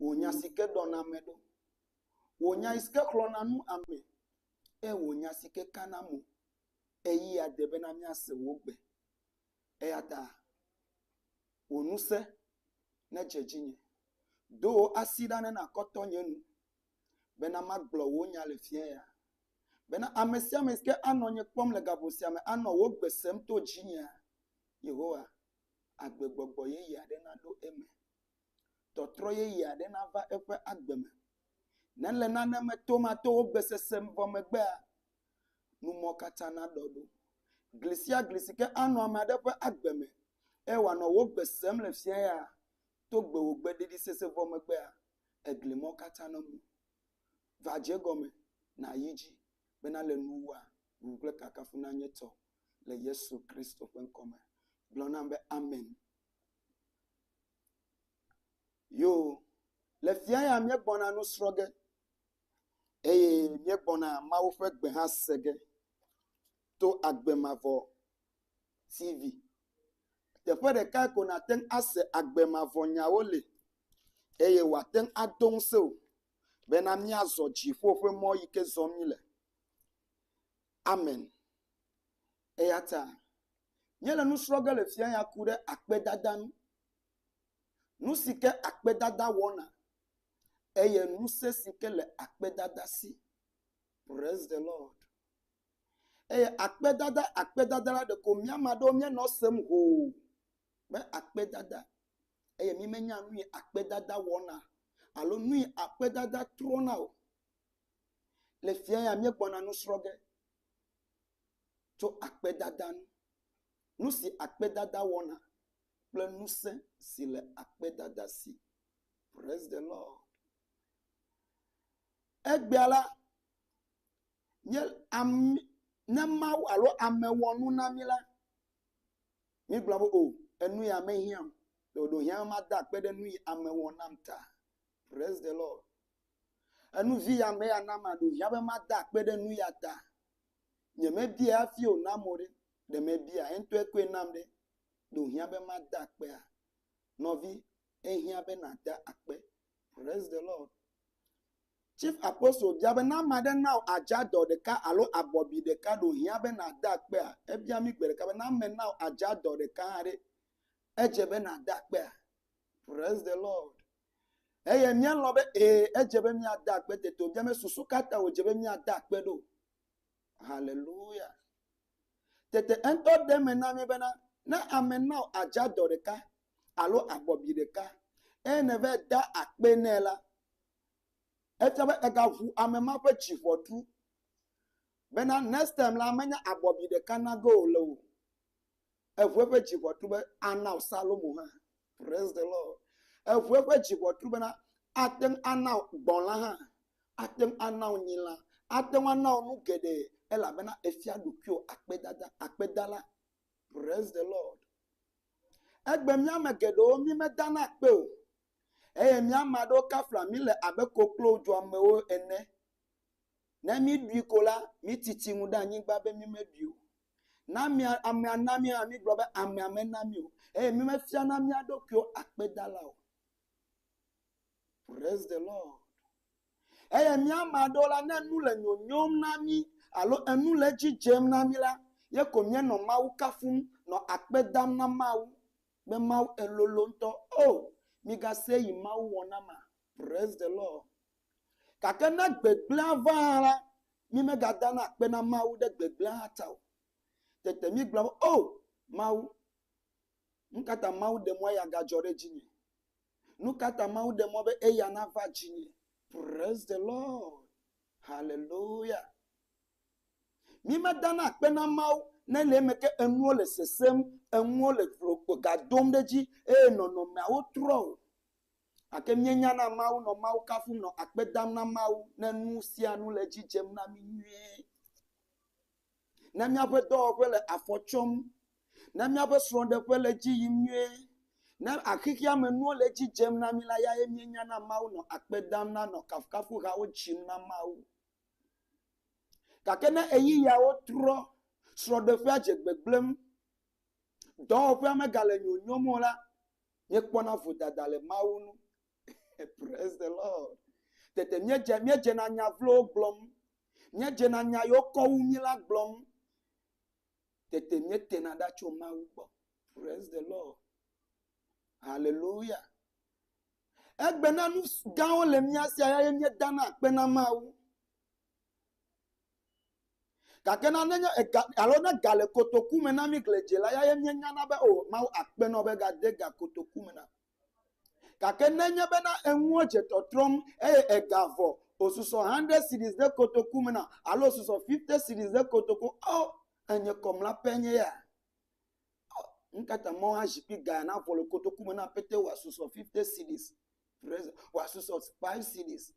Wò nya si ke ɖɔna ame ɖo. Wò nya si ke xlɔna nu ame. Ke wò nya si ke kana mo. Ɣeyiɣia de bena míase wò gbe. Eya ta wò ŋusẽ nedze dzinye. Do wò asi ɖa ne nàkɔ tɔ nye nu. Bena magblɔ wò nya le fia ya. Bena ame sia ame si ke anɔ nye kpɔm le gaƒo sia me anɔ wò gbe sem to dzinye. Yehowa agbegbɔgbɔ yeye aɖe naɖo eme. Tɔtrɔ yeye aɖe nava eƒe agbe me. Ne le nane me tom ato wo gbesese vɔ megbea, nu ma katã naɖɔ ɖo. Gli sia gli si ke anɔ ame aɖe ƒe agbe me eye wòanɔ wo gbe sem le fiẽ ya, to gbewògbe ɖiɖisese vɔ megbea, egli mawo katã namu. Va dze egɔme, nàyi edzi bena le nuwòa, ŋuŋu kple kafukafu nanye tɔwò. le Yesu Kristo ƒe ŋkɔ me. Gblɔ nam be amen. Yoo, le fia ya míegbɔna nu srɔ̃ ge eye míegbɔna Mawu ƒe gbe hã se ge to agbe mavɔ TV. Teƒe ɖeka ko nàte ŋu ase agbe mavɔ nyawo le eye wòate ŋu ado ŋusẽ wò bena míazɔ dziƒo ƒe mɔ yi ke zɔm míele. Amen. Eya ta míele nu srɔ̃ ge le fia ya ku ɖe akpedada ŋu. Nu si ke akpedada wɔna eye ŋusẽ si ke le akpedada si. Praise the Lord. Eye akpedada akpedada la ɖeko mía ame aɖewo míenɔ esem hoo be akpedada eye mímenya nu yi akpedada wɔna alo nu yi akpedada trɔna o. Le fia ya míegbɔna nu srɔ̃ ge tso akpedada ŋu. Nu si akpedada wɔna kple ŋusẽ si le akpedada si. Praise the Lord. Egbea la, míe ami ne Mawu alo ame wɔ nu na mí la, míegblɔna be o enu ya mehiã o. Ɖewo ɖe wohiã be mada akpe ɖe nu yi ame wɔ nam ta. Praise the Lord. Enu vi ya me ya na maɖo hiã be mada akpe ɖe nu ya ta. Nye me bia hafi o na mo ɖe, ɖe me bia eŋtɔe koe nam ɖe, ɖo hiã be mada akpea. Nɔvi, ehiã be na da akpe. Praise the Lord. Chief Apostle bia be na ame aɖe na wò adza dɔ ɖeka alo abɔbi ɖeka ɖo hiã be na da akpea. Ebia mi gbe ɖeka be na ame na wò adza dɔ ɖeka hã ɖe, edze be na da akpea. Praise the Lord. eye míalɔ̃ be ee edze be míade akpe tete o via me susu ka ta wòdze be míade akpe ɖo. Haleluya. Tete eŋutɔ ɖe eme na mí bena ne ame na wò adzadɔ ɖeka alo abɔbi ɖeka eye nèva da akpe nɛ la, efia be egaʋu ame ma ƒe dzi ʋɔtru bena next time la menya abɔbi ɖeka nage wòle o. Eŋu eƒe dzi ʋɔtru be, Ana wò Salomo hã. Praise the Lord. Eŋu eƒe dzi ʋɔtru bena, Ate ŋu ana wò gbɔ̃la hã. Ate ŋu ana wò nyilã. Ate ŋu ana wò nu geɖe elabena èfia ɖokuiwò akpedada, akpedala. Praise the Lord. Egbe mía ame geɖewo mímedana akpe o. Eye mía ame aɖewo kafla mí le abe koklo dzoamewo ene. Ne míɖui ko la, míti tsi ŋu ɖe anyigba be mímeɖui o. Ne amea, amea na mí hã mígblɔ be amea mena mí o eye mímefiana mía ɖokuiwo akpedala o. Praise the Lord. Eye mía ame aɖewo la, ne nu le nyonyom na mí alo enu le edzi dzem na mí la, ye ko míenɔ Mawu kafum, nɔ akpe dam na Mawu be Mawu elolo ŋutɔ. O, migasee yi Mawu wɔ na ma. Praise the Lord. Gake ne gbegblẽa va hã la, mímegadana akpe na Mawu ɖe gbegblẽa hã ta o. Tete míegblɔ be, O! Mawu, nu ka ta Mawu ɖe mɔ eya gadzɔ ɖe dzinye? Nu ka ta Mawu ɖe mɔ be eya nava dzinye? Praise the Lord. Hallelujah. Mímedana akpe na Mawu ne le eme ke enuwo le sesẽm, enuwo le glo- ga dom ɖe edzi eye nɔnɔmeawo trɔ o. Gake míenyana Mawu nɔ Mawu kafum, nɔ akpe dam na Mawu ne nu sia nu le edzi dzem na mí nyuie. Ne míaƒe dɔwɔƒe le afɔ tsɔm, ne míaƒe srɔ̃ɖeƒe le edzi yim nyuie, ne xexeamenuwo le edzi dzem na mí la, eyae míenyana Mawu nɔ akpe dam na, nɔ kafukafuhawo dzim na Mawu. Gake ne ɣeyiɣiawo trɔ, srɔ̃ɖeƒea dze gbegblẽm, dɔwɔƒea megale nyonyom o la, míekpɔna vodada le Mawu ŋu. Praise the Lord. Tete míedze, míedzena nya vlowo gblɔm. Míedzena nya yiwo kɔ wu mí la gblɔm. Tete míetena ɖa tso Mawu gbɔ. Praise the Lord. Hallelujah. Egbena nu gãwo le mía si eye míedana akpe na Mawu. Gake na nenye ega alo ne ga le kotoku me na mí gledziela ya ye míenyana be o Mawu akpe na wò be gade ga kotoku me na mi. Gake nenye bena enuwo dze tɔtrɔm eye ega vɔ osusɔ hundred cedis ɖe kotoku me na alo osusɔ fifty cedis ɖe kotoku o enye kɔmla pɛ nye ya. Nu ka ta mɔ azikpui ga ya navɔ le kotoku me na aƒetɔ wòasusɔ fifty cedis wòasusɔ five cedis.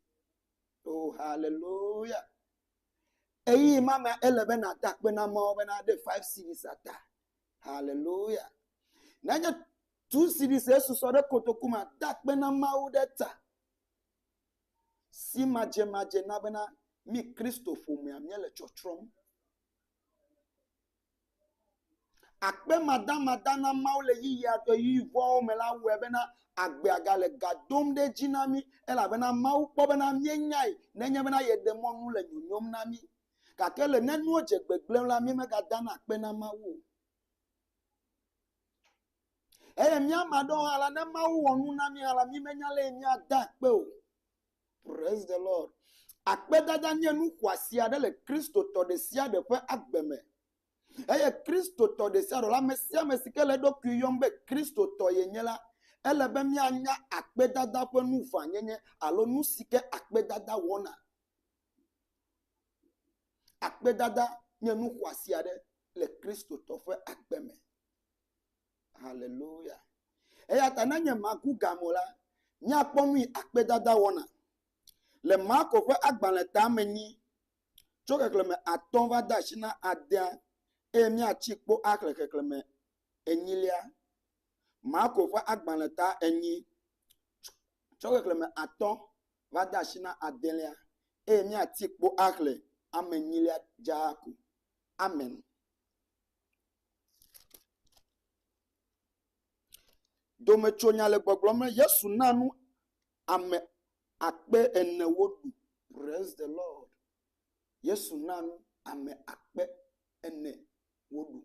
Oo, haleluya. Ɣeyiɣi ma mea, ele be nàda akpe na Mawu bena eɖe five series ada. Haleluya. Nenye two series esusɔ ɖe kotoku ma, da akpe na Mawu ɖe ta. Si madzemadze na bena mí Kristo ƒomea míele tsɔtsrɔ̃m. Akpe madamada na Mawu le ɣeyiɣia ɣeyiɣi vɔ̃wo me la wɔe bena agbea gale ga dom ɖe edzi na mí elabena Mawu kpɔ bena míenyae nenye bena yeɖe mɔ nu le nyonyom na mí. Gake le ne nuwo dze gbegblẽm la, míemegadana akpe na Mawu o. Eye mía ame aɖewo hã la, ne Mawu wɔ nu na mí hã la, mímenya ale si míade akpee o. Praise the Lord. Akpedada nye nu xɔasi aɖe le Kristotɔ ɖe sia ɖe ƒe agbe me. Eye Kristotɔ ɖe sia ɖe la, ame sia ame si ke le eɖokui yɔm be Kristotɔ yenye la, ele be míanya akpedada ƒe nu ʋãnyenye alo nu si ke akpedada wɔna. Akpedada nye nu xɔasi aɖe le Kristotɔ ƒe agbe me. Haleluya! Eya ta ne nye maku gam o la, míakpɔ nu yi akpedada wɔna le Marko ƒe agbalẽ tame nyi tso xexlẽme atɔ̃ va de asi na adea eye míatsi kpo axle xexlẽme enyilia. Marko ƒe agbalẽ ta enyi tso xexlẽme atɔ̃ va de asi na adelia eye míatsi kpo axle ame enyilia dzaa ko. Amen. Dometsonya le gbɔgblɔm be Yesu na nu ame akpe ene woɖu. Praise the Lord. Yesu na nu ame akpe ene woɖu.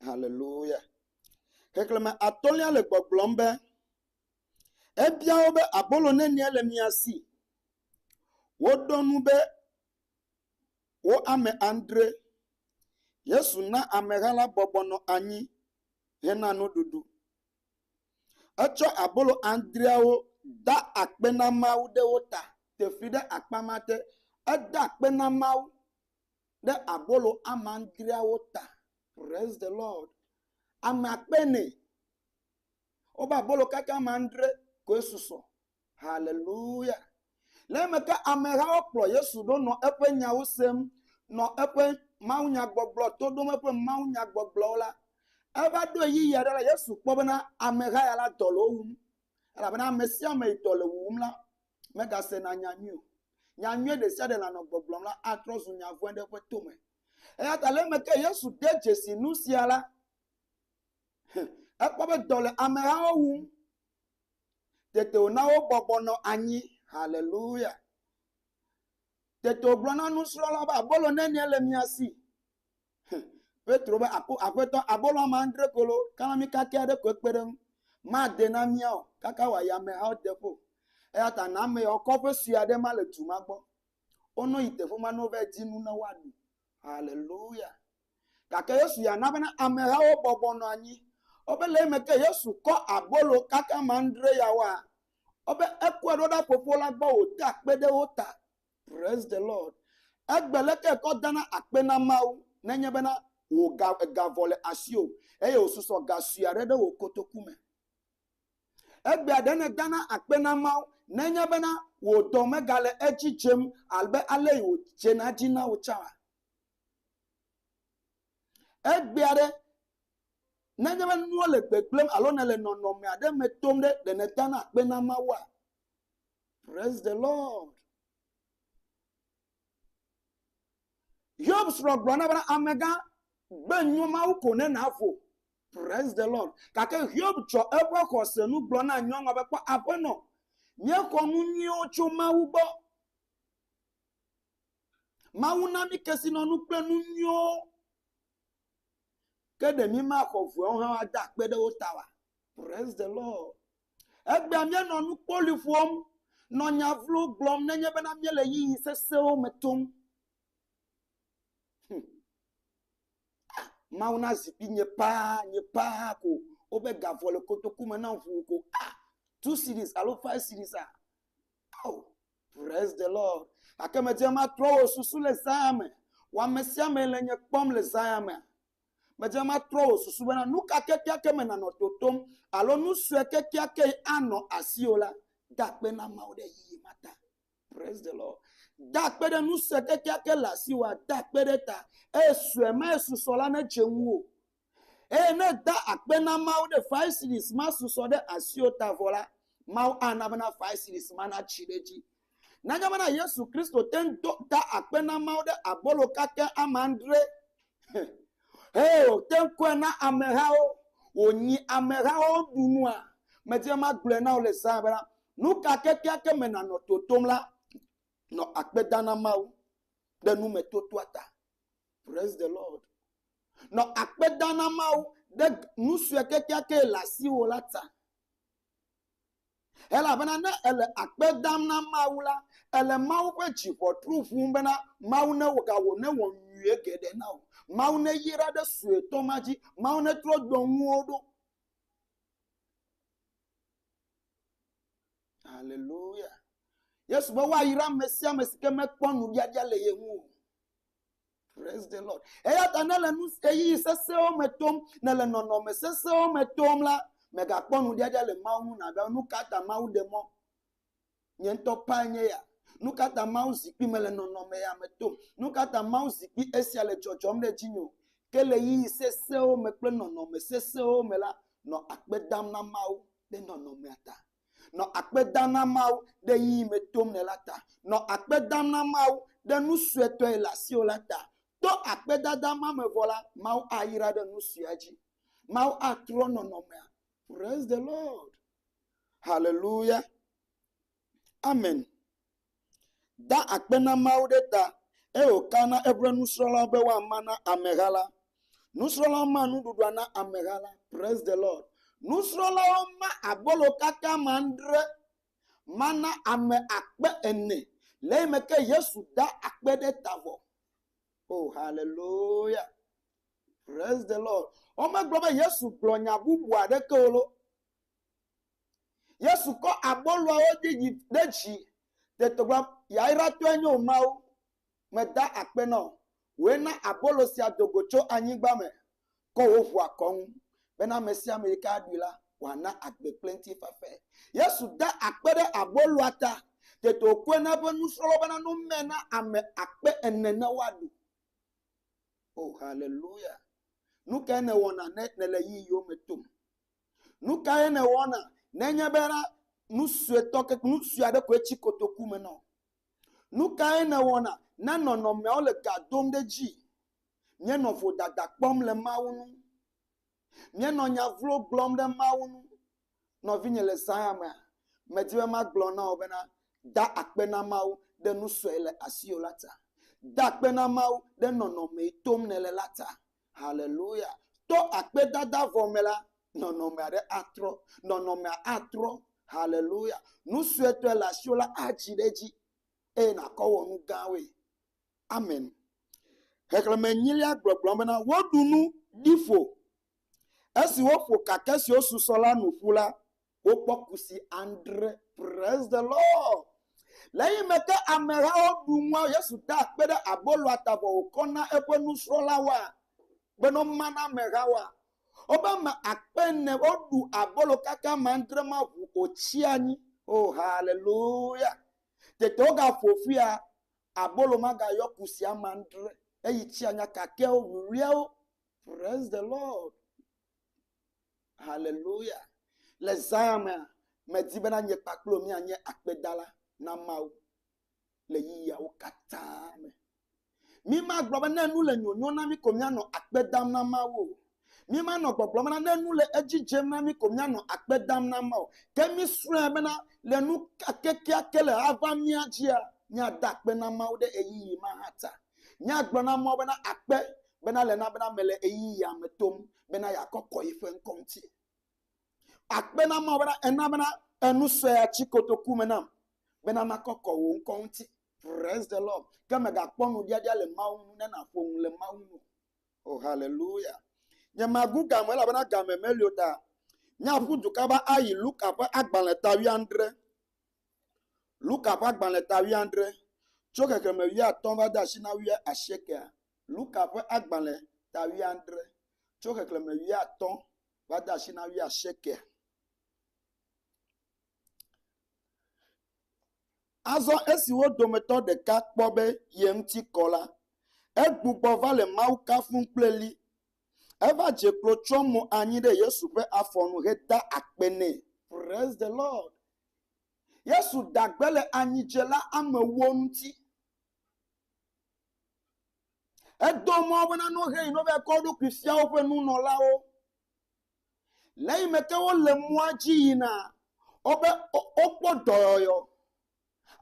Haleluya. Xexlẽme atɔ̃lia le gbɔgblɔm be, Ebia wo be, Abolo nenie le mia si? Woɖo eŋu be, wo ame adre. Yesu na ameha la bɔbɔ nɔ anyi hena nuɖuɖu. Etsɔ abolo adreawo da akpe na Mawu ɖe wo ta. Te fli ɖe akpa ma te. Eda akpe na Mawu ɖe abolo ame adreawo ta. Praise the Lord. Ame akpe ene. Wobe abolo kaka ame adre koe susɔ. Haleluya! Le eme ke amehawo kplɔ Yesu ɖo nɔ eƒe nyawo sem, nɔ eƒe mawunyagbɔgblɔ to ɖom eƒe mawunyagbɔgblɔwo la, eva ɖo ɣeyiɣi aɖe la, Yesu kpɔ bena ameha ya la dɔ le wo wum. Elabena ame sia ame yi dɔ le wuwum la, megasena nya nyui o. Nya nyui ɖe sia ɖe lanɔ gbɔgblɔm la, atrɔ zu nya vɔ̃e ɖe eƒe to me. Eya ta le eme ke Yesu de dzesi nu sia la, ekpɔ be dɔ le amehawo wum. Tete wòna wobɔbɔ nɔ anyi. Haleluya! Tete wògblɔ na nusrɔ̃lawo be, Abolo nenie le mia si? Hm, Petro be, Aƒetɔ, abolo ame adre ko lo, kalami kakɛ aɖe koe kpe ɖe eŋu. Made na mía o, kaka wòayi amehawo de ƒo. Eya ta na ame yawo kɔƒe sue aɖe ma le du ma gbɔ. Wonɔ yi teƒe ma ne wova di nu ne woaɖu. Haleluya! Gake Yesu ya na bena amehawo bɔbɔ nɔ anyi. Ɔbe le eme ke Yesu kɔ abolo kaka ame andre yawoa, ɔbe ekɔe ɖo ɖa Fofo la gbɔ wòda akpe ɖe wo ta. Praise the Lord. Egbe leke ekɔ dana akpe na Mawu nenye bena wò ga, ega vɔ le asiwò eye wòsusɔ ga sue aɖe ɖe wò kotoku me. Egbea ɖe nèdana akpe na Mawu ne enye bena wò dɔ megale edzi dzem abe ale si wòdzena edzi na wò tsãa? Egbea ɖe ne enye be nuwo le gbegblẽm alo nèle nɔnɔme aɖe me tom ɖe, ɖe nèdana akpe na Mawua? Praise the Lord. Yob srɔ̃ gblɔ na be amegã gbe nyo Mawu ko ne nàvo. Praise the Lord. Gake Hiob tsɔ eƒe xɔse nu gblɔ na nyɔnua be kpɔ aƒenɔ, míexɔ nu nyuiwo tso Mawu gbɔ. Mawu na mí kesinɔnu kple nu nyuiwo. Ke ɖe mímaxɔ vuawo hã woade akpe ɖe wo ta oa? Praise the Lord. Egbea míanɔ nukpoli ƒom, nɔ nya vlo gblɔm nenye bena míele ɣeyiɣi sesẽwo me tom. Hm. Ah, Mawu na zikpui nye paa, nye paa ko. Wobe gavɔ le kotoku me nam ʋuu ko. Ah, two series alo five series ah. Oh, praise the Lord. Gake medze matrɔ wò susu le zãa me. Wɔ ame sia ame le nye kpɔm le zãa me. Medze ŋgɔa trɔ wò susu bena nu ka kekeake me nànɔ totom alo nu sue kekeakee anɔ asiwò la, da akpe na Mawu ɖe yiyi ma ta. Praise the Lord. Da akpe ɖe nu sue kekeake le asiwòa, da akpe ɖe eta, eye sue mae susɔ la nedze ŋuwò. Eye ne èda akpe na Mawu ɖe faisiɖis ma susɔ ɖe asiwò ta vɔ la, Mawu ana bena faisiɖis ma natsi ɖe edzi. Nanya bena Yesu Kristo te ŋu do ta akpe na Mawu ɖe abolo kake ame andre eye wòte ŋu kɔe na amehawo wònyi amehawo ɖu nua. Medi be magblɔe na wò le zã bena, nu ka kekeake me nànɔ totom la, nɔ akpe dam na Mawu ɖe numetotoa ta. Praise the Lord. Nɔ akpe dam na Mawu ɖe nu sue kekeake le asiwò la ta. Elabena ne èle akpe dam na Mawu la, èle Mawu ƒe dziʋɔtru ʋum bena Mawu newɔ ga wò, newɔ nyui geɖe na wò. Mawu neyra ɖe suetɔ ma dzi. Mawu netrɔ dɔ ŋuwo ɖo. Haleluya. Yesu be woayra ame sia ame si ke mekpɔ nuɖiaɖia le ye ŋu o. Praise the Lord. Eya ta ne le nu ɣeyiɣi sesẽwo me tom, ne le nɔnɔme sesẽwo me tom la, mègakpɔ nuɖiaɖia le Mawu ŋu nàbe nu ka ta Mawu ɖe mɔ. Nye ŋutɔ pae nye ya. Nu ka ta Mawu zikpui mele nɔnɔme ya me tom? Nu ka ta Mawu zikpui esia le dzɔdzɔm ɖe dzinye o? Ke le ɣeyiɣi sesẽwo me kple nɔnɔme sesẽwo me la, nɔ akpe dam na Mawu ɖe nɔnɔmea ta. Nɔ akpe dam na Mawu ɖe yi yi me tom le la ta. Nɔ akpe dam na Mawu ɖe nu suetɔ yi le asiwò la ta. To akpedada ma me vɔ la, Mawu ayra ɖe nu suea dzi. Mawu atrɔ nɔnɔmea. Praise the Lord. Hallelujah. Amen. da akpe na Mawu ɖe ta eye wòka na eƒe nusrɔ̃lawo be woama na ameha la. Nusrɔ̃lawo ma nuɖuɖua na ameha la. Praise the Lord. Nusrɔ̃lawo ma abolo kaka ame adre ma na ame akpe ene le eyime ke Yesu da akpe ɖe ta vɔ. Oh, hallelujah. Praise the Lord. Womegblɔ be Yesu gblɔ nya bubu aɖeke o lo. Yesu kɔ aboloawo ɖe dzi ɖe dzi. Tete gblɔ, Yayratɔe nye wò Mawu. Meda akpe na wò. Wòe na abolo sia do go tso anyigba me kɔ wò ʋu akɔ ŋu bena ame sia ame yi ke aɖui la, wòana agbe kple ŋutifafae. Yesu da akpe ɖe aboloa ta. Tete wòkɔe na eƒe nusrɔ̃lawo bena no mee na ame akpe ene ne woaɖu. O haleluya! Nu kae nèwɔna ne nèle yi yiwo me tom? Nu kae nèwɔna nenye be ɖa nu suetɔ keke nu sue aɖe koe tsi kotoku me na wò? Nu kae nèwɔna ne nɔnɔmeawo le ga dom ɖe edzi? Míenɔ vodada kpɔm le Mawu ŋu. Míenɔ nya vlo gblɔm ɖe Mawu ŋu. Nɔvinye, le zã ya mea, medi be magblɔ na wò bena, da akpe na Mawu ɖe nu sue le asiwò la ta. Da akpe na Mawu ɖe nɔnɔme yi tom nèle la ta. Haleluya! To akpedada vɔ me la, nɔnɔme aɖe atrɔ. Nɔnɔmea atrɔ. Haleluya! Nu suetɔe le asiwò la adzi ɖe edzi eye nàkɔ wɔ nu gãwoe. Amen. Xexlẽme enyilia gblɔ gblɔ bena, Woɖu nu, ɖi ƒo. Esi woƒo kake siwo susɔ la nu ƒu la, wokpɔ kusi adre. Praise the Lord. Le eyi me ke amehawo ɖu nua Yesu da akpe ɖe aboloa ta vɔ wòkɔ na eƒe nusrɔ̃lawoa bene woma na amehawoa. Wobe ame akpe ene woɖu abolo kaka ame adre ma ʋu wòtsi anyi. Oh, haleluya. Tete wogaƒo ƒia abolo magayɔ kusi ame adre eyi tsi anya kakewo, wuwliawo. Praise the Lord. Haleluya! Le zã ya mea, medi bena nye kpakple wò míanye akpedala na Mawu le ɣeyiɣiawo katã me. Mímagblɔ be ne nu le nyonyo na mí ko míanɔ akpe dam na Mawu o. Mímanɔ gbɔgblɔm bena ne nu le edzi dzem na mí ko míanɔ akpe dam na Mawu. Ke mísrɔ̃e bena le nu kekeake le ava mía dzia, míada akpe na Mawu ɖe ɣeyiɣi ma hã ta. Míagblɔ na Mawu bena, Akpe bena le na bena mele ɣeyiɣia me tom bena yeakɔkɔ yiƒe ŋkɔ ŋuti. Akpe na Mawu bena ena bena enu sue ya tsi kotoku me nam bena makɔkɔ wò ŋkɔ ŋuti. Praise the Lord. Ke mègakpɔ nuɖiaɖia le Mawu ŋu ne nàƒo nu le Mawu ŋu. O oh, haleluya. Nye magu game elabena game meli o ta. Míaƒu du kaba ayi Luka ƒe agbalẽ ta wuiadre. Luka ƒe agbalẽ ta wuiadre, tso xexlẽme wuiatɔ̃ va de asi na wuiasiekea? Luka ƒe agbalẽ ta wuiadre, tso xexlẽme wuiatɔ̃ va de asi na wuiasiekea? Azɔ esi wo dometɔ ɖeka kpɔ be ye ŋuti kɔ la, egbugbɔ va le Mawu kafum kple ɣli Eva dze klo tsyɔ mo anyi ɖe Yesu ƒe afɔ nu heda akpe nɛ. Praise the Lord. Yesu da gbe le anyidzela amewo ŋuti. Edo mɔ wo bena ne wohe yina wova kɔ wo ɖokui fia woƒe nunɔlawo. Le eyime ke wole mɔa dzi yinaa, wobe wo, wokpɔ dɔyɔyɔ.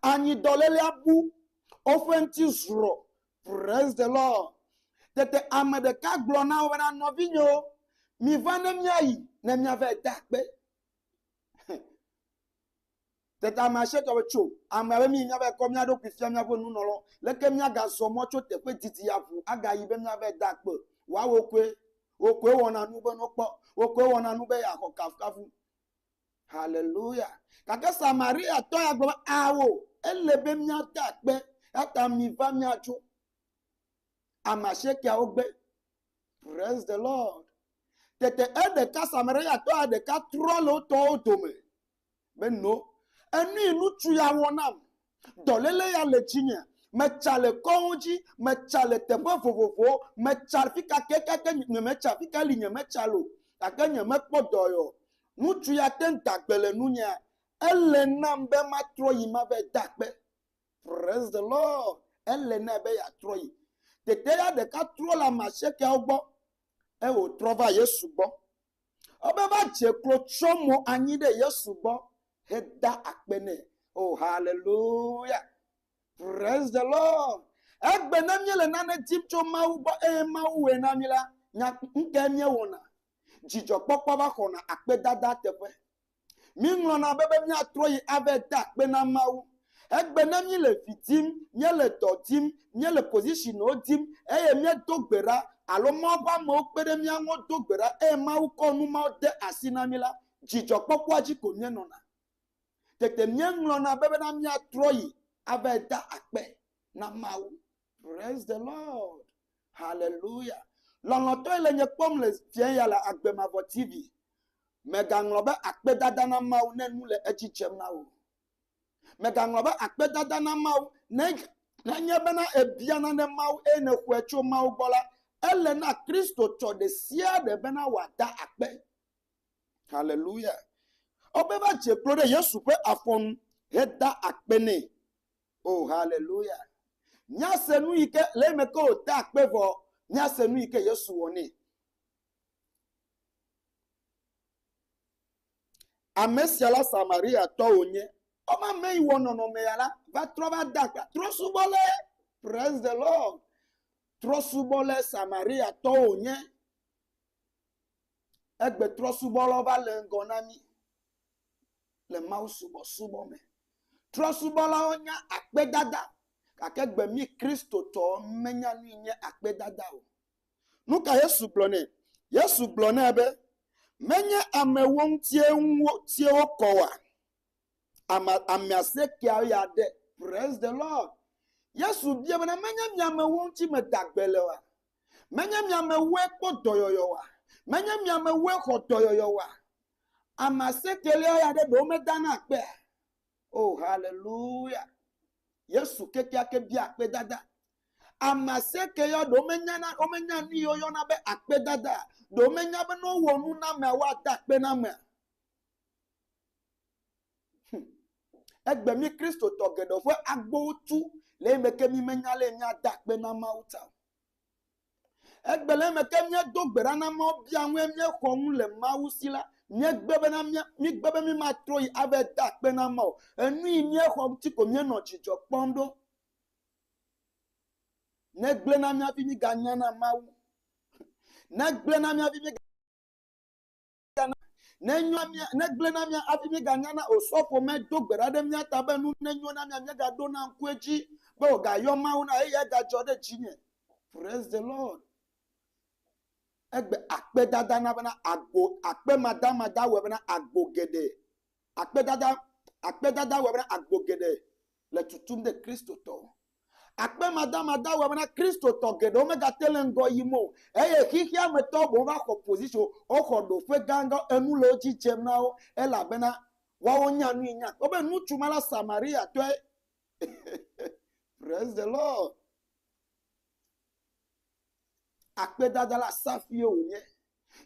Anyi dɔlélea bu, woƒe ŋuti zrɔ. Praise the Lord. Tete ame ɖeka gblɔ na wo bena, Nɔvinyewo, miva ne míayi ne míavae de akpe. Tete ame asietɔ be tso, ame be mi míavae kɔ mía ɖokui fia míaƒe nunɔlɔ. Leke míagazɔ mɔ tso teƒe didi ya ŋu agayi be míavae de akpe? Woawo koe. Wo koe wɔna nu be nokpɔ. Wo koe wɔna nu be yeaxɔ kafukafu. Haleluya! Gake Samariatɔ ya gblɔ be, Ao, ele be míade akpe, eya ta miva míatso. Ame asiekeawo gbe. Praise the Lord. Tete eɖeka Samariatɔ ya ɖeka trɔ le wo tɔwo dome be no, enu yi ŋutsu ya wɔ nam Dɔléle ya le dzinye. Metsa le kɔwo dzi, metsa le teƒe vovovowo, metsa afi ka ke gake nyemetsa, afi ka li nyemetsa le o, gake nyemekpɔ dɔe o. Ŋutsu ya te ŋu da gbe le nunyea, Ele nam be matrɔ yi mava de akpe. Praise the Lord! Ele nɛ be yeatrɔ yi. Teteya ɖeka trɔ le ame asiekɛawo gbɔ eye wòtrɔ va Yesu gbɔ. Ebe va dze klo tsɔ mo anyi ɖe Yesu gbɔ he da akpe nɛ. Oh, hallelujah. Praise the Lord. Egbe ne mie le nane dim tso Mawu gbɔ eye Mawu wɛ na mi la, nya ŋkɛ mie wɔna. Dzidzɔ kpɔkpɔ va xɔna akpe dada teƒe. Míeŋlɔna be be míatrɔ yi ave de akpe na Mawu. Egbe ne míele vi dim, míele dɔ dim, míele positionwo dim, eye míedo gbe ɖa, alo Mawu ƒe amewo kpe ɖe mía ŋu do gbe ɖa, eye Mawu kɔ nu mawo de asi na mí la, dzidzɔkpɔkpɔa dzi ko míenɔna. Tete míeŋlɔna be bena míatrɔ yi ave de akpe na Mawu. Praise the Lord. Hallelujah. Lɔlɔtɔe le nye kpɔm le fiɛ ya le agbe mavɔ TV. Mègaŋlɔ be akpedada na Mawu ne nu le edzi dzem na wò. Mègaŋlɔ be akpedada na Mawu ne nenye bena èbia nane Mawu eye nèxɔe tso Mawu gbɔ la, ele na Kristotɔ ɖe sia ɖe bena wòada akpe. Hallelujah. Womeva dze klo ɖe Yesu ƒe afɔ nu heda akpe nɛ. O haleluya. Míase nu yi ke le eme ke wòte akpe vɔ, míase nu yi ke Yesu wɔ nɛ. Ame sia la Samariatɔ wònye. Ɔma ame yi wɔ nɔnɔme ya la va trɔ va da akpa trɔsubɔ le praise the Lord. Trɔsubɔ le Samariatɔ wònye. Egbetrɔsubɔlawo va le ŋgɔ na mí le mawusubɔsubɔ me. Trɔsubɔlawo nya akpedada gake gbe mí Kristotɔwo menya nu yi nye akpedada o. Nu ka Yesu gblɔ nɛ? Yesu gblɔ nɛ be, Menye amewo ŋutie ŋu wotie wokɔ oa? Ame ame asiekea ya ɖe. Praise the Lord. Yesu biae bena, Menye mi amewo ŋuti meda gbe le oa? Menye mi amewoe kpɔ dɔyɔyɔ oa? Menye mi amewoe xɔ dɔyɔyɔ oa? Ame asiekelia ya ɖe ɖewo medana akpea? O, oh, haleluya! Yesu kekeake bia akpedada. Ame asieke ya ɖewo menyana, womenya nu yi woyɔna be akpedada. Ɖewo menya be ne wowɔ nu na amea, woada akpe na amea. Hum. Egbe mí Kristotɔ geɖe ƒe agbowo tu le eme ke mímenya ale míada akpe na Mawu ta o. Egbe le eme ke míedo gbe ɖa na Mawu bia ŋue míexɔ ŋu le Mawu si la, míegbe bena mía- míegbe be mímatrɔ yi ave da akpe na Mawu. Enu yi míexɔ ŋuti ko míenɔ dzidzɔ kpɔm ɖo. Negblẽ na mía hafi miganya na Mawu. Negblẽ na mía hafi miga- míegblẽna, nenyoa mía, negblẽna mía hafi míeganyana o. Sɔfo medo gbe ɖa ɖe mía ta be nu nenyo na mía míegaɖona ŋku edzi be wògayɔ Mawu na eye egadzɔ ɖe dzinye. Praise the Lord. Egbe akpedada na bena agbo, akpemadamada wɔe bena agbo geɖe Akpedada, akpedada wɔe bena agbo geɖe le tutum ɖe Kristotɔwo. Akpemadamada wɔe bena Kristotɔ geɖewo megate le ŋgɔ yim o eye xexea me tɔwo boŋ va xɔ position, woxɔ ɖoƒe gãgã, enu le wo dzi dzem na wo elabena woawo nya nui nya kpɔ be ŋutsu ma la Samariatɔe. Praise the Lord. Akpedada la safie wònye.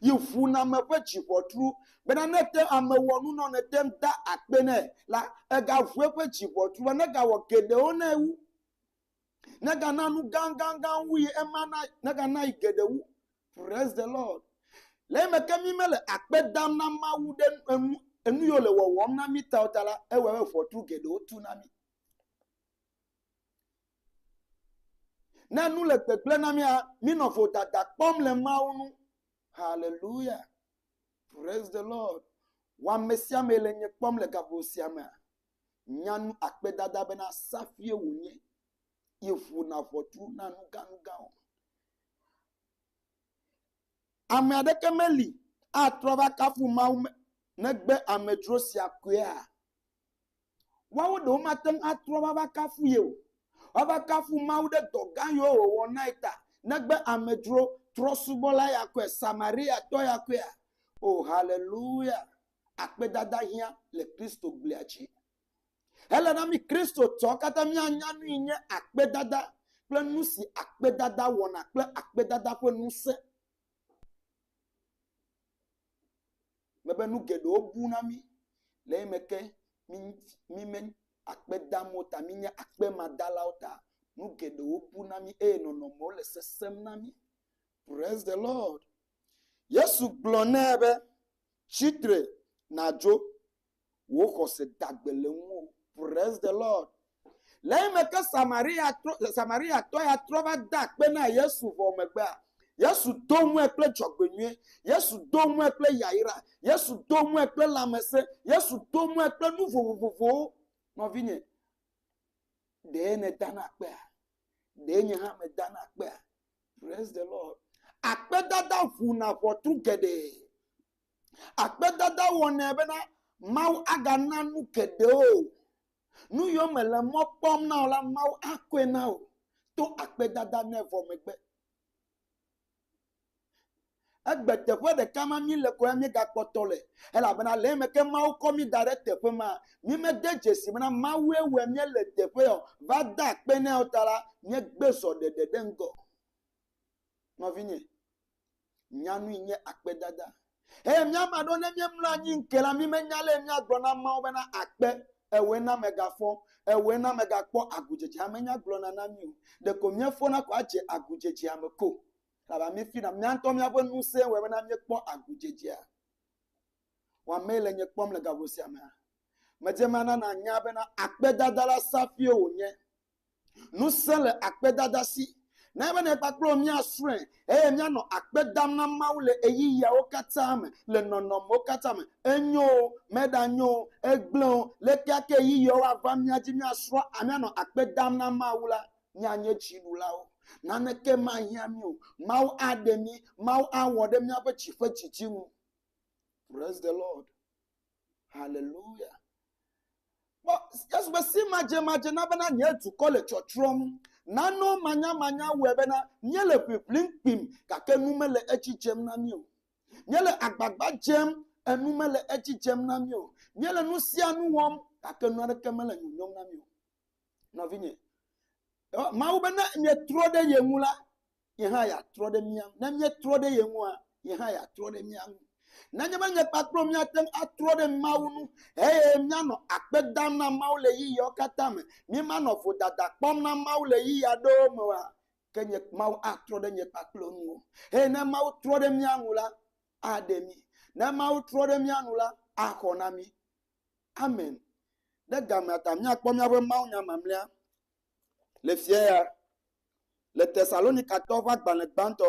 yi ŋuname ƒe dziʋɔtru bena ne ete ame wɔ nu nɔ nete ŋu da akpe nɛ la, egaʋu eƒe dziʋɔtru be negawɔ geɖewo nɛ wu. Negana nu gãgãgã wu yi ema na negana yi geɖe wu. Praise the Lord. Le eme ke mi mele akpe dam na Mawu ɖe enu enu yiwo le wɔwɔm na mi ta o ta la, ewɔe be ʋɔtru geɖewo tu na mi. Ne nu le gbegblẽ na mía, mínɔ vodada kpɔm le Mawu ŋu. Haleluya! Praise the Lord! Wɔ ame sia ame le nye kpɔm le gaƒo sia mea, nya nu akpedada bena safie wònye yi ƒona ʋɔtru na nuganugawo. Ame aɖeke meli atrɔ va kafu Mawu negbe amedzro sia koea? Woawo ɖewo womate ŋu atrɔ va va kafu ye o, woava kafu Mawu ɖe dɔ gã yiwo wòwɔ na ye ta. Negbe amedzro, trɔ̃subɔla ya koe, Samariatɔ ya koea? O, haleluya! Akpedada hiã le Kristoglia dzi. Ele na mí Kristotɔwo katã míanya nui nye akpedada kple nu si akpedada wɔna kple akpedada ƒe ŋusẽ. Mebe nu geɖewo bu na mí le eyime ke mí, mí me akpe dam o ta, míenye akpemadalawo ta, nu geɖewo bu na mí eye nɔnɔmewo le sesẽm na mí. Praise the Lord. Yesu gblɔ nɛ be, Tsi tre nàdzo wò xɔse da gbe le ŋuwò. Praise the Lord. Le eyime ke Samariatɔ ya trɔ va de akpe na Yesu vɔ megbea, Yesu do ŋue kple dzɔgbenyui, Yesu do ŋue kple yayra, Yesu do ŋue kple lãmesẽ, Yesu do ŋue kple nu vovovowo. Nɔvinye, ɖee nèda na akpea? Ɖee nye hã meda na akpea? Praise the Lord. Akpedada ʋuna ʋɔtru geɖe. Akpedada wɔnɛ bena Mawu agana nu geɖe wò. Nu yio mèle mɔ kpɔm na o la, Mawu akɔe na wò to akpedada me vɔ megbe. Egbe teƒe ɖeka ma mí le ko ya mí gakpɔ tɔ le. Elabena le eme ke Mawu kɔ mí da ɖe teƒe ma, mí me de dzesi bena Mawue wɔe mí le teƒe ya o. Va de akpe nɛ o ta la, mí gbe zɔ ɖeɖe ɖe ŋgɔ. Nɔvinye. Nyanui nye akpedada. Eye mía ame aɖewo ne míemlɔ anyi ŋke la, mímenya ale míagblɔ na ameawo bena akpe, ewoe na megafɔ, ewoe na megakpɔ agudzedze ame nya gblɔna na mí o. Ɖeko míefɔna ko adze agudzedzea me ko. Elabena mí fina mía ŋutɔ míaƒe ŋusẽ wɔe bena míekpɔ agudzedzea. Wɔ amee le nye kpɔm le gaƒo sia mea? Medze eme ana nànya bena akpedada la safie wònye. Ŋusẽ le akpedada si. Na ebe ne kpakple wò míasrɔ̃e eye míanɔ akpe dam na Mawu le ɣeyiɣiawo katã me, le nɔnɔmewo katã me. Enyo o, meɖanyo o, egblẽ o, ɖekakɛ ɣeyiɣiawo ava mía dzi míasrɔ̃, míanɔ akpe dam na Mawu la, míanye dziɖulawo. Naneke mahiã mí o. Mawu aɖe mí. Mawu awɔ ɖe míaƒe dzi ƒe didi ŋu. Praise the Lord. Haleluya! Kpɔ Yesu be simadzemadze na bena nye dukɔ le tsɔtsrɔ̃m. Nane manyamanya wɔe bena míele ʋiʋlim kpim gake nu mele edzi dzem na mí o. Míele agbagba dzem, enu mele edzi dzem na mí o. Míele nu sia nu wɔm gake nu aɖeke mele nyɔnyɔm na mí o. Nɔvinye, Mawu be ne mietrɔ ɖe ye ŋu la, ye hã yeatrɔ ɖe mía ŋu. Ne míetrɔ ɖe ye ŋua, ye hã yeatrɔ ɖe mía ŋu. Nenye be nye kpakple míate ŋu atrɔ ɖe Mawu ŋu eye míanɔ akpe dam na Mawu le ɣeyiɣiawo katã me, míemanɔ vodada kpɔm na Mawu le ɣeyiɣi aɖewo me oa, ke nye, Mawu atrɔ ɖe nye kpakple wo ŋu o. Eye ne Mawu trɔ ɖe mía ŋu la, aɖe mí. Ne Mawu trɔ ɖe mía ŋu la, axɔ na mí. Amen. Ɖe gamea ta míakpɔ míaƒe mawunya mamlɛa le fia ya le Tesalonikatɔwo ƒe agbalẽ gbãtɔ.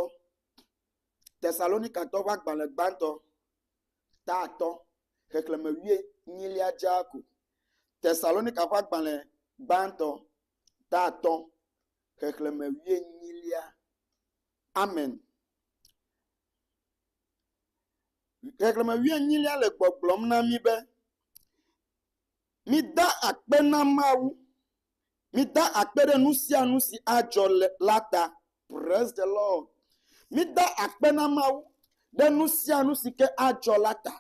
Tesalonikatɔwo ƒe agbalẽ gbãtɔ, ta atɔ̃, xexlẽme wuienyilia dzaa ko. Tesalonika ƒe agbalẽ gbãtɔ, ta atɔ̃, xexlẽme wuienyilia. Amen. Xexlẽme wuienyilia le gbɔgblɔm na mí be, Mida akpe na Mawu. Mida akpe ɖe nu sia nu si adzɔ le la ta. Prais de Lɔd. Mida akpe na Mawu ɖe nu sia nu si ke adzɔ la ta.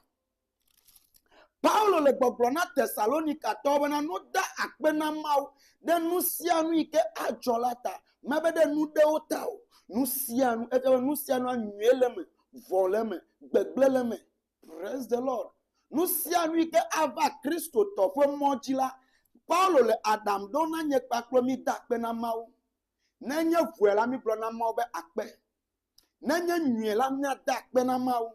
Paulo le gbɔgblɔ na Tesalonikatɔwo bena nu da akpe na Mawu ɖe nu sia nu yi ke adzɔ la ta. Mebe ɖe nu ɖewo ta o. Nu sia nu, eƒe be nu sia nua nyuie le eme, vɔ̃ le eme, gbegblẽ le eme. Praise the Lord. Nu sia nu yi ke ava Kristotɔ ƒe mɔ dzi la, Paulo le aɖaŋu ɖom na nye kpakple mi da akpe na Mawu. Ne enye vɔ̃e la, migblɔ na Mawu be akpe. Ne enye nyuie la, míada akpe na Mawu.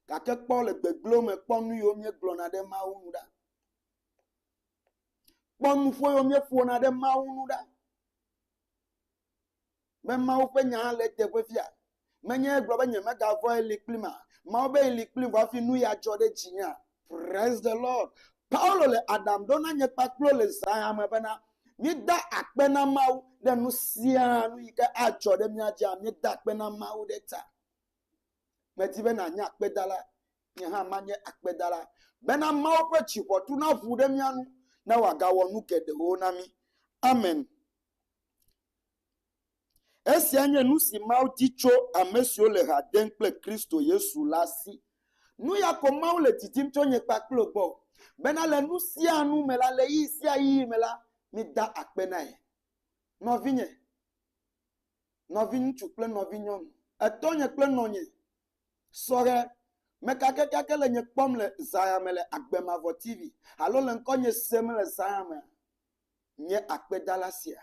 gake kpɔ le gbegblẽ me kpɔ nu yiwo míegblɔna ɖe Mawu ŋu ɖa. Kpɔ nuƒo yiwo míeƒona ɖe Mawu ŋu ɖa. Be Mawu ƒe nya le eteƒe fia. Menye egblɔ be nyemegavɔ̃ ye li kplim ma. Mawu be ye li kplim vɔ hafi nu ya dzɔ ɖe dzinyea. Praise the Lord. Paulo le aɖaŋu ɖom na nye kpakple le zãya me bena, míeda akpe na Mawu ɖe nu sia nu yi ke adzɔ ɖe mía dzia, míeda akpe na Mawu ɖe ta. Medi be nànye akpedala, nye hã manye akpedala, bena Mawu ƒe dziʋɔtu naʋu ɖe mía ŋu, ne wòagawɔ nu geɖewo na mí. Amen. Esia nye nu si Mawu di tso ame siwo le ha dem kple Kristo Yesu la si. Nu ya ko Mawu le didim tso nye kpakple wò gbɔ, bena le nu sia nu me la, le ɣeyiɣi sia ɣeyiɣi me la, mída akpe na ye. Nɔvinye. nɔviŋutsu kple nɔvinyɔnu, etɔnye kple nɔnye, sɔhɛ, mekakɛkakɛ le nye kpɔm le zã ya me le Agbe Mavɔ TV alo le ŋkɔnye sem le zã ya mea, nye akpedala sia.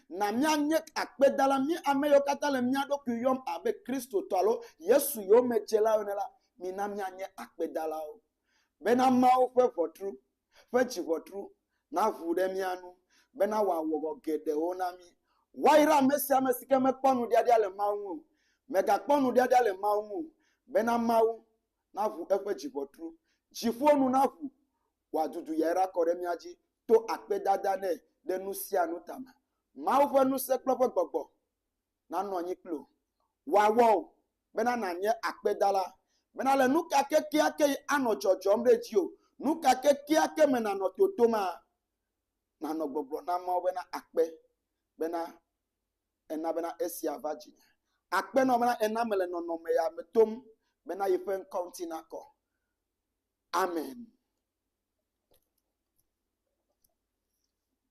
Na míanye akpedala, mí ame yiwo katã le mía ɖokui yɔm abe Kristotɔ alo Yesu yomedzelawo ene la, mina míanye akpedalawo bena Mawu ƒe ʋɔtru ƒe dziŋɔtru naʋu ɖe mía ŋu bena wòawɔ vɔ geɖewo na mí. Woayra ame sia ame si ke mekpɔ nuɖiaɖia le Mawu ŋu o. Mègakpɔ nuɖiaɖia le Mawu ŋu o bena Mawu naʋu eƒe dziŋɔtru. Dziƒo nu naʋu wòadudu yayra akɔ ɖe mía dzi to akpedada nɛ ɖe nu sia nu ta me. Mawu ƒe ŋusẽ kple eƒe gbɔgbɔ nanɔ anyi kpli wò. Wòawɔ wò bena nànye akpedala. Bena le nu ka kekeakee anɔ dzɔdzɔm ɖe dziwò, nu ka kekeake me nànɔ totomaa, nànɔ gbɔgblɔ na Mawu bena, Akpe bena èna bena esia va dzinye. Akpe na wò bena èna mele nɔnɔme ya me tom bena yi ƒe ŋkɔ ŋuti nakɔ. Amen.